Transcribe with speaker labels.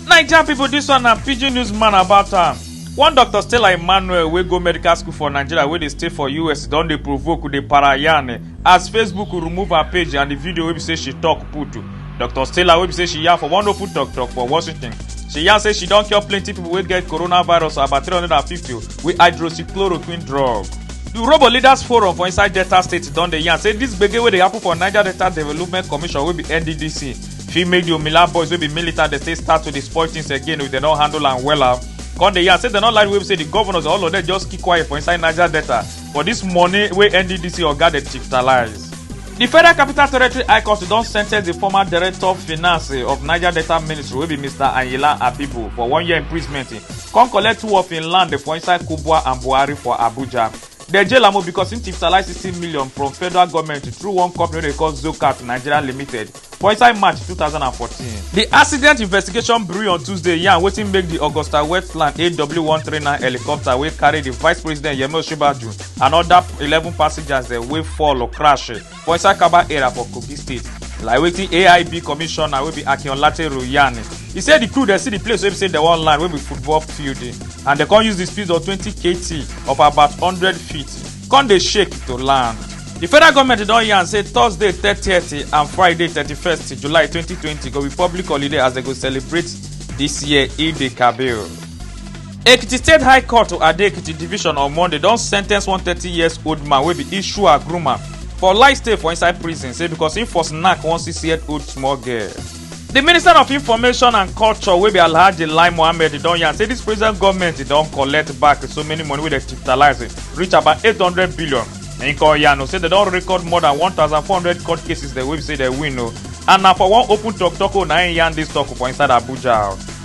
Speaker 1: naija pipo dis one na pidgin news man about am one doctor stella emmanuel wey go medical school for nigeria wey dey stay for us don dey provoke dey para yarn as facebook remove her page and di video wey be say she tok put dr stella wey be say she yarn for one open tok tok for washington she yarn say she don cure plenty pipo wey get coronavirus about 350 with hydroxychloroquine drug The Robo Leaders Forum for inside Delta State don dey yarn say this gbege wey dey happen for Niger Delta Development Commission wey be NDDC fit make the Omila boys wey be militant dey take start to dey spoil things again if dem no handle am wella. Come dey yarn say dem no like the way be say the governors all of them just keep quiet for inside Niger Delta for this money wey NDDC oga dey chiftalize. The Federal Capital Territory High Court don sentence the former Director of Finance of Niger Delta Ministry wey be Mr. Ayinla Abibu for one year imprisonment come collect two of im land for inside kubwa and buhari for abuja dem jail am o because im tipsalize sixty million from federal goment through one company wey dey call zocat nigeria limited for inside march two thousand and fourteen. di accident investigation bureau on tuesday yarn wetin make di augusta westland aw one three nine helicopter wey carry di vice president yemi osinbajo and oda eleven passengers dem wey fall crash for inside kaba area for kogi state like wetin aib commissioner wey be akin olateru yarn e say di crew dey see di place wey be say dem wan land wey be football field and dem come use di speed of twenty kt of about hundred feet come dey shake to land. di federal goment don yarn say thursday thirtieth and friday thirty-first july twenty twenty go be public holiday as dem go celebrate dis year eid kabir. ekiti state high court to ado-ekiti division on monday don sentence one thirty years old man wey be ishu agruma for life stay for inside prison say because he for knack one six year old small girl. di minister of information and culture wey be alhaji lai mohammed don yarn say dis present goment don collect back so many money wey dem digitalize reach about eight hundred billion im come yarn o say dem don record more than one thousand four hundred court cases dem wey be say dem win o and na for one open tok tok o na im yarn dis tok for inside abuja o.